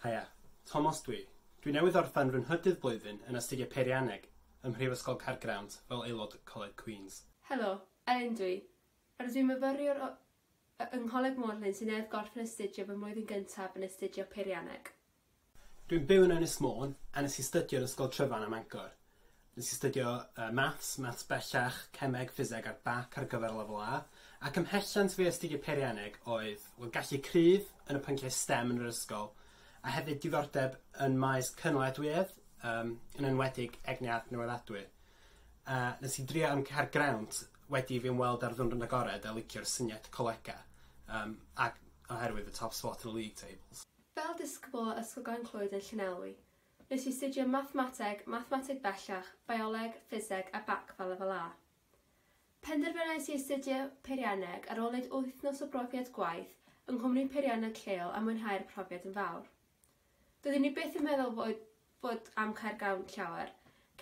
Haia, Tomos dw i. Dw i newydd orffen fy nhrydydd blwyddyn yn Astudiau Peirianneg ym Mhrifysgol Caergrawnt fel aelod Coleg Queen's. Helo, Elin dw i. Rydw i'n myfyriwr yng Ngholeg Morlin sy'n newydd gorffen astudio fy mlwyddyn gyntaf yn astudio Peirianneg. Dwi'n byw yn Ynys Môn a nes i stydio yn Ysgol Tryfan ym Mangor. Nes i stydio yy Maths, Maths Bellach, Cemeg, Ffiseg a'r Bac ar gyfer Lefel A, ac ymhellent fi i astudio Peirianneg oedd, wel, gallu cryf yn y pynciau stem yn yr ysgol, a hefyd diddordeb yn maes cynaliadwyedd, yym, yn enwedig egni adnewyddadwy. A nes i drio am car grant wedi i fi ymweld â'r Dwynfryn Agored a licio'r syniad colega, yym, ac oherwydd y top spot yn y league tables. Fel disgybl o Ysgol Glan Clwyd yn Llanelwy, nes i astudio Mathemateg, Mathemateg Bellach, Bioleg, Ffiseg a bac fel Lefel A. Penderfynais i astudio Peirianneg ar ôl neud wythnos o brofiad gwaith yng nghwmni peirianneg lleol a mwynhau'r profiad yn fawr. Doeddwn i byth yn meddwl fod fod amcan gafn llawer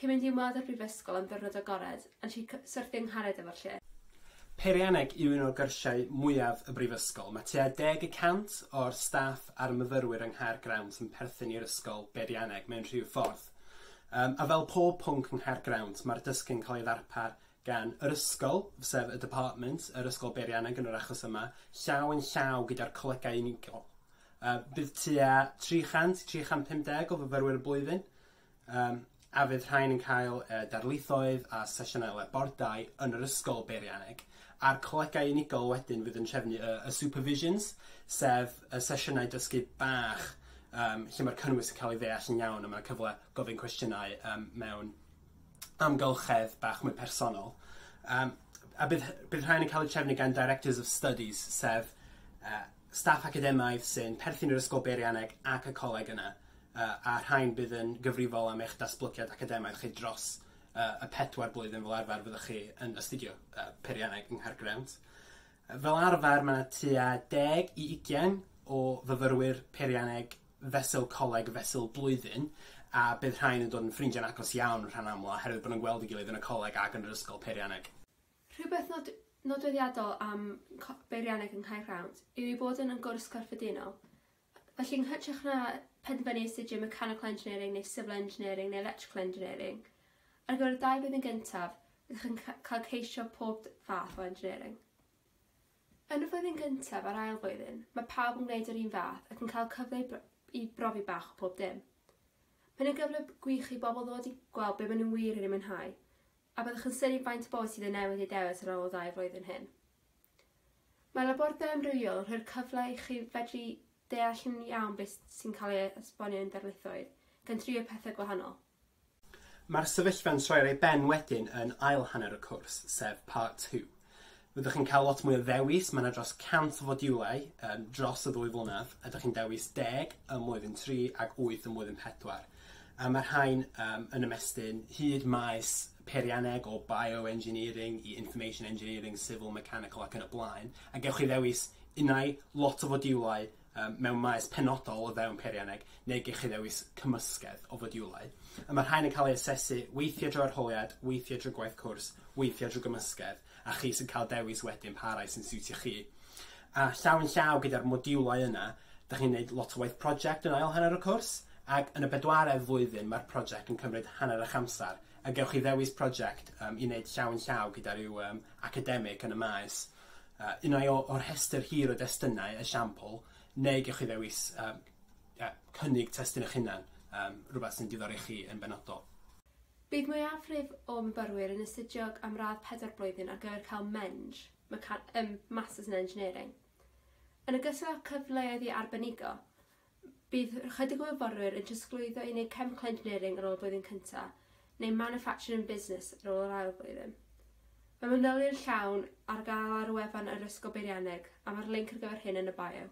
cyn mynd i ymweld â'r brifysgol am ddiwrnod agored, yn lle cy-, syrthio yng nghared efo'r lle. Peirianneg yw un o gyrsiau mwyaf y brifysgol. Mae tua deg y cant o'r staff a'r myfyrwyr yng Nghaergrawnt yn perthyn i'r ysgol beirianneg mewn rhyw ffordd. Yym, a fel pob pwnc yng Nghaergrawnt, mae'r dysgu'n cael ei ddarpar gan yr ysgol, sef y Department, yr ysgol beirianneg yn yr achos yma, llaw yn llaw gyda'r colegau unigol. Yy bydd tua 300 i 350 o fyfyrwyr y blwyddyn, yym, a fydd rhain yn cael yy darlithoedd a sesiynau le bordau yn yr ysgol beirianneg, a'r colegau unigol wedyn fydd yn trefnu y y supervisions, sef y sesiynau dysgu bach yym lle ma'r cynnwys yn ca'l ei ddeall yn iawn a ma' 'na cyfle gofyn cwestiynau yym mewn amgylchedd bach mwy personol. Yym a bydd hy- bydd rhain yn ca'l eu trefnu gan directors of studies sef yy staff academaidd sy'n perthyn i'r Ysgol Beirianneg ac y coleg yna, a rhain bydd yn gyfrifol am eich datblygiad academaidd chi dros y pedwar blwyddyn fel arfer fyddwch chi yn astudio Peirianneg yng Nghaergrawnt. Fel arfer mae 'na tua deg i ugain o fyfyrwyr Peirianneg fesul coleg fesul blwyddyn, a bydd rhain yn dod yn ffrindiau'n agos iawn rhan amla oherwydd bod nhw'n gweld ei gilydd yn y coleg ac yn yr Ysgol Peirianneg. Rhywbeth nod- nodweddiadol am co- beirianneg yng Nghaergrawnt yw ei bod yn yn gwrs corffedinol. Felly yn hytrach na penderfynu astudio Mechanical Engineering neu Civil Engineering neu Electrical Engineering, ar gyfer y dau flwyddyn gyntaf, rydych yn ca- cael ceisio pob d- fath o engineering. Yn y flwyddyn gyntaf a'r ail flwyddyn, mae pawb yn gwneud yr un fath ac yn cael cyfle i br- i brofi bach o pob dim. Mae'n yn gyfle b- gwych i bobl ddod i gweld be maen nhw wir yn ei mwynhau, A byddwch yn synnu faint o bobl sydd yn newid eu dewis ar ôl y ddau flwyddyn hyn? Mae labordai amrywiol yn rhoi'r cyfle i chi fedru deall yn iawn beth sy'n cael ei esbonio i'n darlithoedd, gan drio pethau gwahanol. Mae'r sefyllfa'n troi ar ei ben wedyn yn ail hanner y cwrs, sef Part Two. Rydych chi'n cael lot mwy o ddewis, mae 'na dros 100 o fodiwlau yym dros y ddwy flynedd, a dych chi'n dewis deg ym mlwyddyn tri ac wyth ym mlwyddyn pedwar. A ma' rhain yym yn ymestyn hyd maes peirianneg o bioengineering i information engineering, civil, mechanical ac yn y blaen, a gewch chi ddewis unai lot o fodiwlau yym mewn maes penodol o fewn peirianneg neu gewch chi ddewis cymysgedd o fodiwlau. A ma' rhain yn ca'l eu asesu weithie drwy arholiad, weithie drwy gwaith cwrs, weithie drwy gymysgedd. a chi sy'n cael dewis wedyn pa rai sy'n siwtio chi. A llaw yn llaw gyda'r modiwlau yna, da chi'n gwneud lot o waith prosiect yn ail hanner y cwrs, ac yn y bedwaredd flwyddyn mae'r prosiect yn cymryd hanner eich amser, a gewch chi ddewis prosiect um, i wneud llaw yn llaw gyda rhyw um, academig yn y maes, uh, unai o'r rhestr hir o destunau, esiampl, neu gewch chi ddewis um, uh, cynnig testun eich hunan, um, rhywbeth sy'n diddori chi yn benodol. Bydd mwyafrif o myfyrwyr yn astudio am radd pedwar blwyddyn ar gyfer cael meng, meca-, yym Masters in Engineering. Yn ogystal â cyfleoedd i arbenigo, bydd ychydig o fyfyrwyr yn trosglwyddo i wneud Chemical Engineering ar ôl y blwyddyn cyntaf, neu Manufacturing and Business ar ôl yr ail flwyddyn. Mae manylion llawn ar gael ar wefan yr Ysgol Beirianneg, a mae'r linc ar gyfer hyn yn y bio.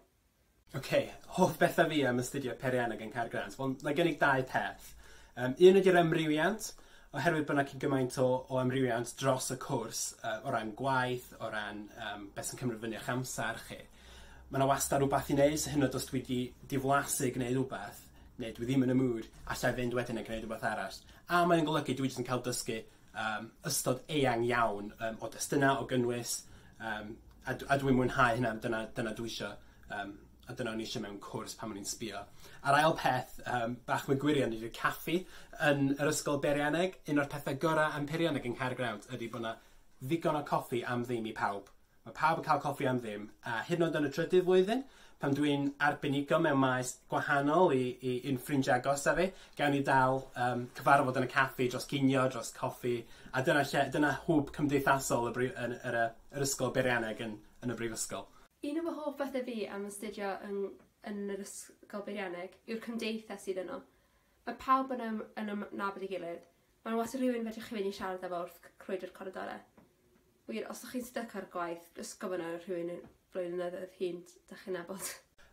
Ok, hoff bethau fi am astudio Peirianneg yn Caergrawnt? Wel, mae gen i dau peth. Um, un ydy'r amrywiant, oherwydd bod yna cyn gymaint o, o amrywiant dros y cwrs, uh, o ran gwaith, o ran um, beth sy'n cymryd fyny o'ch amser chi. Mae yna wastad rhywbeth i wneud, so hyn o dos dwi wedi diflasu gwneud rhywbeth, neu dwi ddim yn y mood, allai fynd wedyn a gwneud rhywbeth arall. A mae'n golygu dwi jyst yn cael dysgu um, ystod eang iawn um, o destunau, o gynnwys, um, a, a dwi'n mwynhau hynna, dyna, dyna dwi eisiau, um, a dyna o'n eisiau mewn cwrs pan o'n i'n sbio. A'r ail peth, um, bach mwy gwirion, ydy'r caffi yn yr ysgol Beirianeg. Un o'r pethau gorau am Peirianeg yng Nghaergrawnt ydy bod yna ddigon o coffi am ddim i pawb. Mae pawb yn cael coffi am ddim, a hyd yn oed yn y trydydd flwyddyn, pan dw i'n arbenigo mewn maes gwahanol i, i, i'n ffrindiau agosaf fi, gawn ni dal um, cyfarfod yn y caffi dros ginio, dros coffi, a dyna, lle, dyna hwb cymdeithasol y brif, yn, yr, yr ysgol beirianneg yn, yn y brifysgol. Un o fy hoff bethau fi am astudio yn, yn yr ysgol beirianneg yw'r cymdeithas sydd yno. Mae pawb yn ym yn ym nabod ei gilydd. Mae 'na wastad rhywun fedrwch chi mynd i siarad efo wrth c- crwydro'r coridore. Wir os dych chi'n styc ar gwaith jyst gofyn ar rhywun yn flaenyddoedd hŷn d- dych chi'n nabod.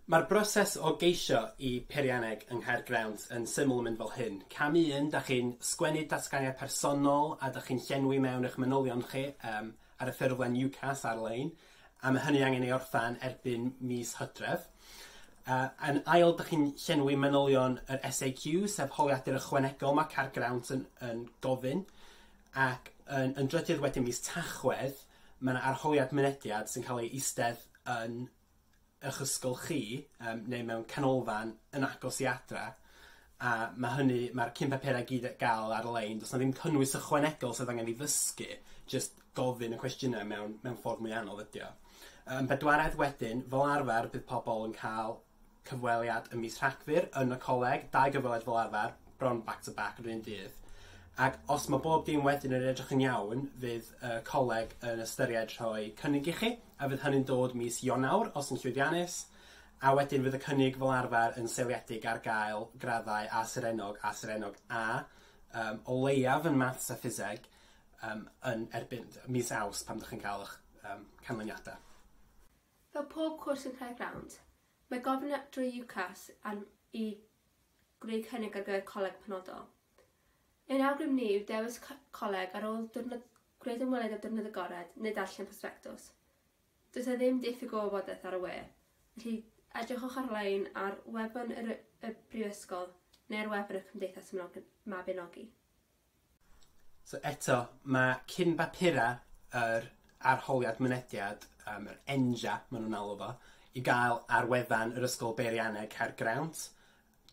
Mae'r broses o geisio i peirianneg yng Nghaergrawnt yn syml yn mynd fel hyn, cam un, dych chi'n sgwennu datganiad personol a dych chi'n llenwi mewn eich manylion chi yym ar y ffurflen UCAS ar-lein. A ma' hynny angen ei orffen erbyn mis Hydref. Yy yn ail, dych chi'n llenwi manylion yr SAQ, sef holiadur ychwanegol ma' Caer Grawnt yn yn gofyn, ac yn yn drydydd wedyn mis Tachwedd, ma' 'na arholiad mynediad sy'n ca'l ei eistedd yn eich ysgol chi yym neu mewn canolfan yn agos i adre a ma' hynny ma'r cyn papura' i gyd ar ga'l ar-lein do's 'na ddim cynnwys ychwanegol sydd angen 'i ddysgu jyst gofyn y cwestiyne mewn mewn ffordd mwy anodd ydi o. Yym bedwaredd wedyn fel arfer bydd pobol yn ca'l cyfweliad ym mis Rhagfyr yn y coleg, dau gyfweliad fel arfer. bron back to back yr un dydd ac os ma' bob dim wedyn yn edrych yn iawn fydd y coleg yn ystyried rhoi cynnig i chi a fydd hynny'n dod mis Ionawr os yn llwyddiannus a wedyn fydd y cynnig fel arfer yn seiliedig ar gael graddau A Serennog a Serennog A um, o leiaf yn maths a ffiseg um, yn erbyn mis Aws pan ydych chi'n cael eich um, canlyniadau. Fel pob cwrs yn Caergrawnt, mae gofyn at drwy UCAS a'n i gwneud cynnig ar gyfer coleg penodol. Ein awgrym ni yw dewis coleg ar ôl diwrnod gwneud ymweliad â diwrnod agored neu darllen prosbectws. Does 'na ddim diffyg o wybodaeth ar y we, felly edrychwch ar-lein ar wefan yr y Brifysgol neu ar wefan y Cymdeithas Mabinogi. So eto, mae cyn-bapurau yr Arholiad Mynediad, um, yr ENJA, maen nhw'n alw fo, i gael ar wefan yr Ysgol Beirianneg Caergrawnt.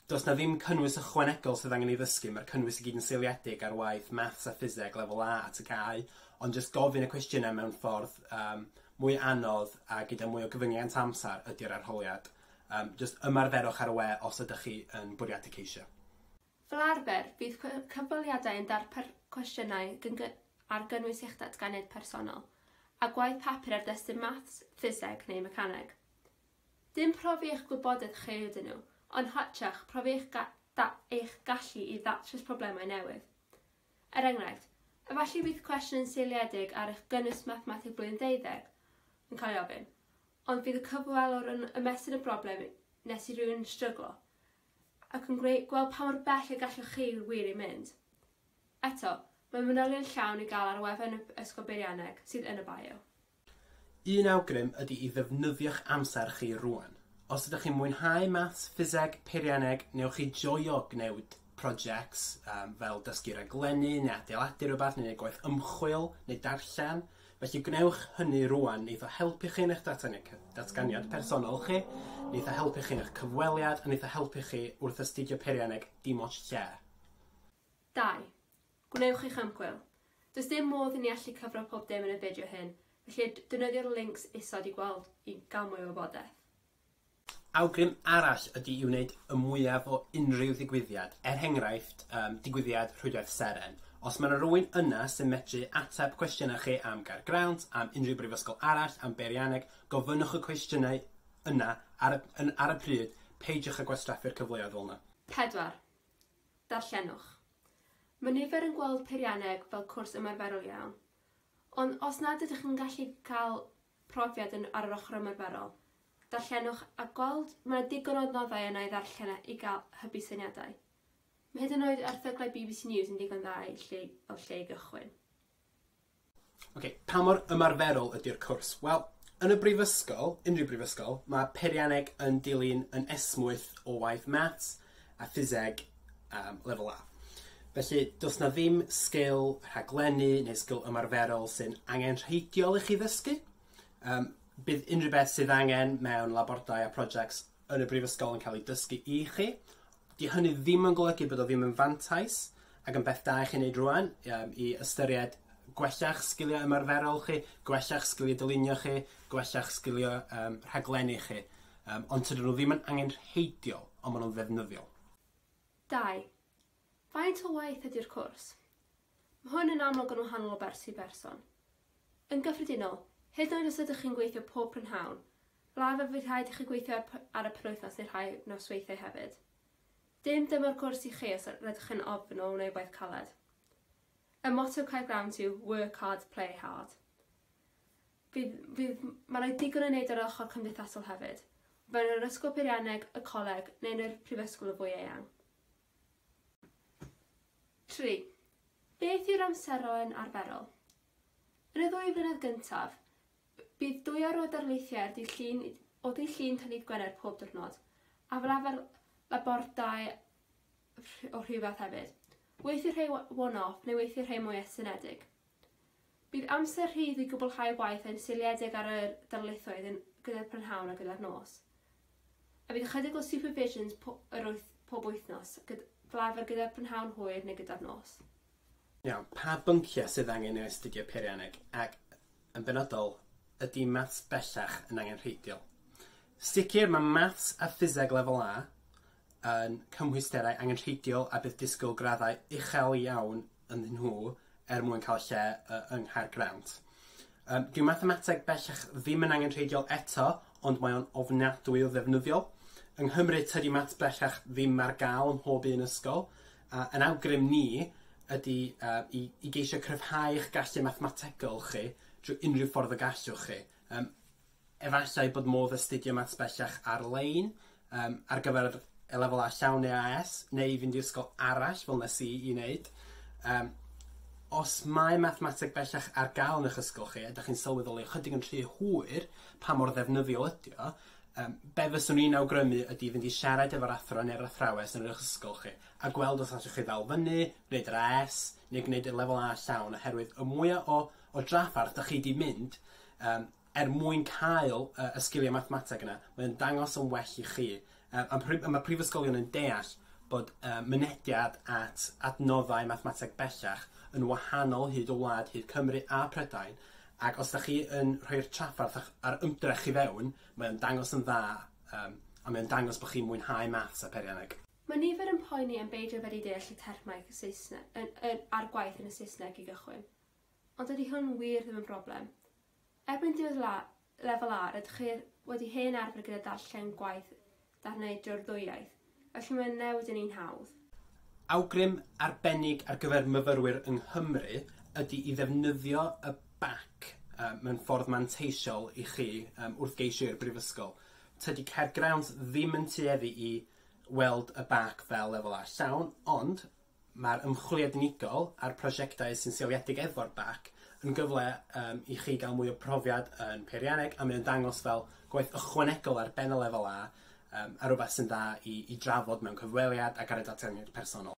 Does na ddim cynnwys ychwanegol sydd angen ei ddysgu, mae'r cynnwys i gyd yn seiliedig ar waith maths a ffiseg lefel A at y cae, ond jyst gofyn y cwestiynau mewn ffordd um, mwy anodd a gyda mwy o gyfyngiant amser ydy'r arholiad. Um, jyst ymarferwch ar y we os ydych chi yn bwriadu ceisio. Fel arfer, bydd cyfweliadau yn darpar cwestiynau ar gynnwys eich datganiad personol, a gwaith papur ar destun maths, ffiseg neu mecaneg. Dim profi eich gwybodaeth chi ydyn nhw, ond hytrach profi eich, ga da eich gallu i ddatrys problemau newydd. Er enghraifft, efallai bydd cwestiwn yn seiliedig ar eich gynnwys mathemateg blwyddyn ddeuddeg yn cael ei ofyn, ond bydd y cyfwelwr yn ymestyn y broblem nes i rhywun stryglo, ac yn gwneud gweld pa mor bell y gallwch chi wir ei mynd. Eto, mae manylion llawn i gael ar wefan y Ysgol Beirianneg, sydd yn y bio. Un awgrym ydy i ddefnyddio'ch amser chi rŵan. Os ydych chi'n mwynhau Maths, Ffiseg, Peirianneg, neu chi joio gwneud projects fel dysgu raglennu neu adeiladu rhywbeth neu neud gwaith ymchwil neu darllen, Felly gwnewch hynny rŵan, neith o helpu chi yn eich datganiad personol chi, neith o helpu chi yn eich cyfweliad, a neith o helpu chi wrth astudio peirianneg dim ots lle. Dau. Gwnewch eich ymchwil. Does dim modd i ni allu cyfro pob dim yn y fideo hyn, felly defnyddio'r lincs isod i gweld i ga'l mwy o wybodaeth. Awgrym arall ydy i wneud y mwyaf o unrhyw ddigwyddiad, er henghraifft, um, digwyddiad Rhwydwaith Seren. Os mae yna rywun yna sy'n medru ateb cwestiynau chi am Gaergrawnt, am unrhyw brifysgol arall, am beirianneg, gofynnwch y cwestiynau yna ar y, yn, ar y pryd, peidiwch â gwastraffu'r cyfleoedd fel yna. 4. Darllenwch. Mae nifer yn gweld peirianneg fel cwrs ymarferol iawn. Ond os nad ydych yn gallu cael profiad yn ar yr ochr ymarferol. Darllenwch a gweld, mae 'na digon o adnoddau yna i ddarllen i gael hybu syniadau. Mae hyd yn oed erthyglau bbc News yn ddigon dda i lle, fel lle i gychwyn. Ok, pa mor ymarferol ydy'r cwrs? Wel, yn y brifysgol, unrhyw brifysgol, mae peirianneg yn dilyn yn esmwyth o waith maths, a ffiseg um, lefel A. Felly, does na ddim sgil rhaglennu neu sgil ymarferol sy'n angen rheidiol i chi ddysgu. Um, bydd unrhyw beth sydd angen mewn labordai a projects yn y brifysgol yn cael ei dysgu i chi. Di hynny ddim yn golygu bod o ddim yn fantais ac yn beth da i chi wneud rwan um, i ystyried gwella'ch sgiliau ymarferol chi, gwella'ch sgiliau dylunio chi, gwella'ch sgiliau um, rhaglennu chi. Yym, ond tydyn nhw ddim yn angenrheidiol, ond maen nhw'n ddefnyddiol. Dau. Faint o waith ydy'r cwrs? Mae hwn yn amlwg yn wahanol o berson i berson. Yn gyffredinol, hyd yn oed os ydych chi'n gweithio pob prynhawn, fel arfer fydd rhaid i chi gweithio ar y penwythnos neu rhai nosweithiau hefyd. Dim dyma'r cwrs i chi os rydych yn ofn o wneud gwaith caled. Y motto Caergrawnt yw 'Work hard, play hard'. Fydd, fydd, mae yna digon o wneud ar yr ochr cymdeithasol hefyd, fewn yr ysgol peirianneg, y coleg, neu yn y prifysgol yn fwy eang. Tri. Beth yw'r amseroen arferol? Yn y ddwy flynedd gyntaf, bydd dwy awr o darlithiau ar ddydd Llun o ddydd Llun tan ddydd Gwener pob diwrnod, a fel arfer labordai o rhyw fath hefyd. Weithiau rhai one-off neu weithiau rhai mwy estynedig. Bydd amser rhydd i gwblhau waith ein seiliedig ar yr darlithoedd yn gyda'r prynhawn a gyda'r nos. A bydd ychydig o supervisions po yr wyth pob wythnos, gyd flafr gyda'r prynhawn hwyr neu gyda'r nos. Iawn, pa bynciau sydd angen i'w astudio peirianneg, ac, yn benodol, ydy maths bellach yn angenrheidiol? Sicr, mae maths a ffiseg lefel A, yn cymhwysterau angenrheidiol a bydd disgwyl graddau uchel iawn ynddyn nhw er mwyn cael lle yy yng Nghaergrawnt. Yym dyw mathemateg bellach ddim yn angenrheidiol eto, ond mae o'n ofnadwy o ddefnyddiol. Yng Nghymru tydi maths bellach ddim ar gael ym mhob un ysgol, a yn awgrym ni ydy yy i i geisio cryfhau eich gallu mathemategol chi drwy unrhyw ffordd y gallwch chi. Yym. Efallai bod modd astudio Maths bellach ar-lein yym ar gyfer y Lefel A llawn neu AS, neu i fynd i ysgol arall fel nes i 'i neud. Yym. Os mae Mathemateg bellach ar ga'l yn eich ysgol chi a 'dach chi'n sylweddoli ychydig yn rhy hwyr pa mor ddefnyddiol ydi o, yym, be' fyswn i'n awgrymu ydi fynd i siarad efo'r athro ne'r athrawes yn yr eich ysgol chi, a gweld os allwch chi ddal fyny, gwneud yr AS, neu gwneud y Lefel A llawn, oherwydd y mwya o o draffarth 'dach chi 'di mynd, yym, er mwyn cael y sgiliau mathemateg yna, mae o'n dangos yn well i chi. A mae prifysgolion yn deall bod mynediad at adnoddau mathemateg bellach yn wahanol hyd y wlad, hyd Cymru a Prydain, ac os da chi yn rhoi'r trafferth a'r ymdrech i fewn, mae o'n dangos yn dda, a mae o'n dangos bod chi'n mwynhau maths a peirianneg. Mae nifer yn poeni am beidio fedru deall y termau a'r gwaith yn y Saesneg i gychwyn. Ond dydy hwn wir ddim yn broblem. Erbyn diwedd la, Lefel A, rydych chi wedi hen arfer gyda darllen gwaith darnau drwy'r ddwy iaith, felly mae'n newid yn un hawdd. Awgrym arbennig ar gyfer myfyrwyr yng Nghymru ydy i ddefnyddio y bac mewn ffordd manteisiol i chi wrth geisio i'r Brifysgol. Tydi Caergrawnt ddim yn tueddu i weld y bac fel Lefel A llawn, ond Mae'r ymchwiliad unigol a'r prosiectau sy'n seiliedig efo'r bac yn gyfle yym i chi gael mwy o brofiad yn peirianneg a mae o'n dangos fel gwaith ychwanegol ar ben y lefel A yym a rwbath sy'n dda i i drafod mewn cyfweliad ac ar y datganiad personol.